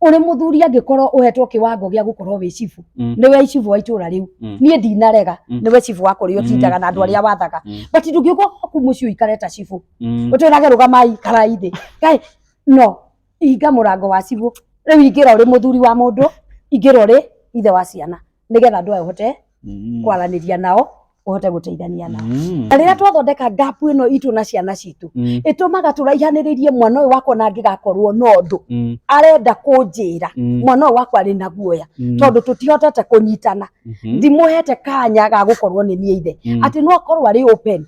ũrĩ mũthuri angĩkorwo ũhetwo kĩwango gĩa gũkorwo wĩ cibu Mm. nĩwe cibu wa itũra rĩu Mm. niĩ ndinarega Mm. nĩwe cibu wa kũrĩa Mm. ũtindaga na andũ Mm. arĩa wathaga Mm. but ndũngĩũka ku mũciĩ ũikare ta cibu Mm. ũtwĩrage rũgamai karai thĩ kaĩ no hinga mũrango wa cibũ rĩu ingĩra ũrĩ mũthuri wa mũndũ ingĩra ũrĩ ithe wa ciana nigetha andu aya uhote Mm. kwaraniria nao uhote guteithania nao Mm. na rĩrĩa twathondeka ngapu ĩno itũ na ciana citũ Mm. ĩtũmaga tũraihanĩrĩrie mwana ũyũ wakwa na angĩgakorwo na ũndũ Mm. arenda kũnjĩra Mm. mwana ũyũ wakwa arĩ na guoya Mm. tondũ tũtihotete kũnyitana Mhm. ndimũhete kanya ga gũkorwo nĩ niĩ ithe Mm. atĩ no akorwo arĩ open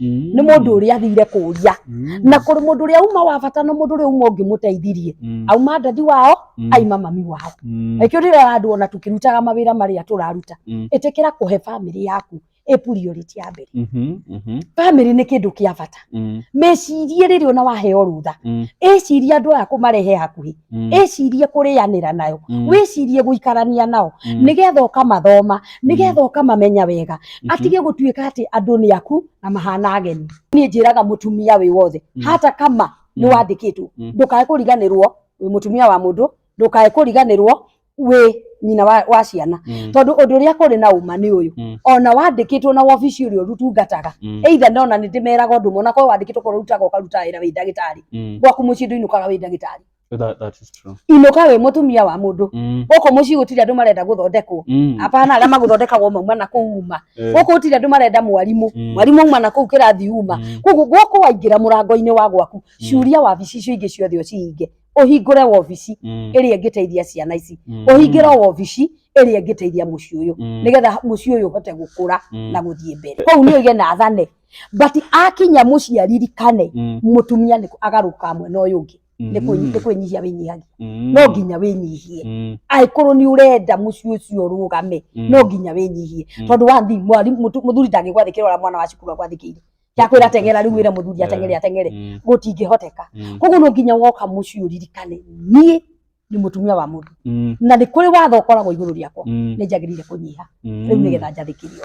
Mm. nĩ mũndũ ũrĩa athire kũria Mm. na kũrĩ mũndũ ũrĩa uma wa bata na mũndũ ũrĩa uma ũngĩmũteithirie Mm. auma ndathi wao Mm. aima mami wao Mm. ĩkĩo ndĩrera andũ ona tũkĩrutaga mawĩra marĩa tũraruta Mm. ĩtĩkĩra kũhe bamĩrĩ yaku ĩ priority ya mbere Mhm. Mhm. bamĩrĩ nĩ kĩndũ kĩa bata Mm. mecirie rĩrĩ ona waheo rutha Mm. ĩcirie andũ aya kũmarehe hakuhĩ Mm. ĩcirie kũrĩanĩra nayo Mm. wĩcirie gũikarania nao Mm. nĩgetha ũkamathoma nĩgetha ũkamamenya wega Mhm. atige gũtuĩka atĩ andũ nĩ aku na mahana ageni niĩ njĩraga mũtumia wĩ wothe Mm. hata kama nĩ Mm. wandĩkĩtwo Mm. ndũkae kũriganĩrwo wĩ mũtumia wa mũndũ ndũkae kũriganĩrwo wĩ nyina wa, wa ciana Mm. tondũ ũndũ ũrĩa kũrĩ na ũma nĩ ũyũ Mm. ona wandĩkĩtwo na wabici ũrĩa ũrutungataga Mm. either nona nĩ ndĩmeraga ũndũ mona korwo wandĩkĩtwo korwo ũrutaga ũkaruta wĩra wĩ ndagĩtarĩ Mm. gwaku mũciĩ ndũinũkaga wĩ ndagĩtarĩ So that, that is true. inũka wĩ mũtumia wa mũndũ Mm. gũkũ mũciĩ gũtirĩ andũ marenda gũthondekwo Mm. apana arĩa magũthondekagwo mauma na kũu uma Eh. gũkũ gũtirĩ andũ marenda mwarimũ Mm. mwarimũ auma na kũu kĩrathi uma Mm. koguo gũkũ waingĩra mũrango-inĩ wa gwaku curia wabici icio ingĩ ciothe ũcihinge ũhingũre wabici Mm. ĩrĩa ĩngĩteithia ciana ici Mm. ũhingĩre o wabici ĩrĩa ĩngĩteithia mũciĩ ũyũ Mm. nĩgetha mũciĩ ũyũ ũhote gũkũra Mm. na gũthiĩ mbere kũu nĩ oige na athane but akinya mũciaririkane Mm. mũtumia nĩ agarũka mwena ũyũ ũngĩ nĩ kwĩ- Mm. nĩ kwĩnyihia wĩnyihagia Mm. no nginya wĩnyihie Mm. angĩkorwo nĩ ũrenda mũciĩ ũcio ũrũgame Mm. no nginya wĩnyihie Mm. tondũ wathi mwarimũ mũtu- mũthuri ndangĩgwathĩkĩra ũrĩa mwana wa cukuru agwathĩkĩire yakwĩra ateng'era rĩu wĩra mũthuri ateng'ere ateng'ere Mm. gũtingĩhoteka Mm. koguo no nginya woka mũciĩ ũririkane niĩ nĩ mũtumia wa mũndũ Mm, na nĩ kũrĩ watho ũkoragwo igũrũ rĩakwa mm, nĩ njagĩrĩire kũnyiha mm. rĩu nĩgetha njathĩkĩrio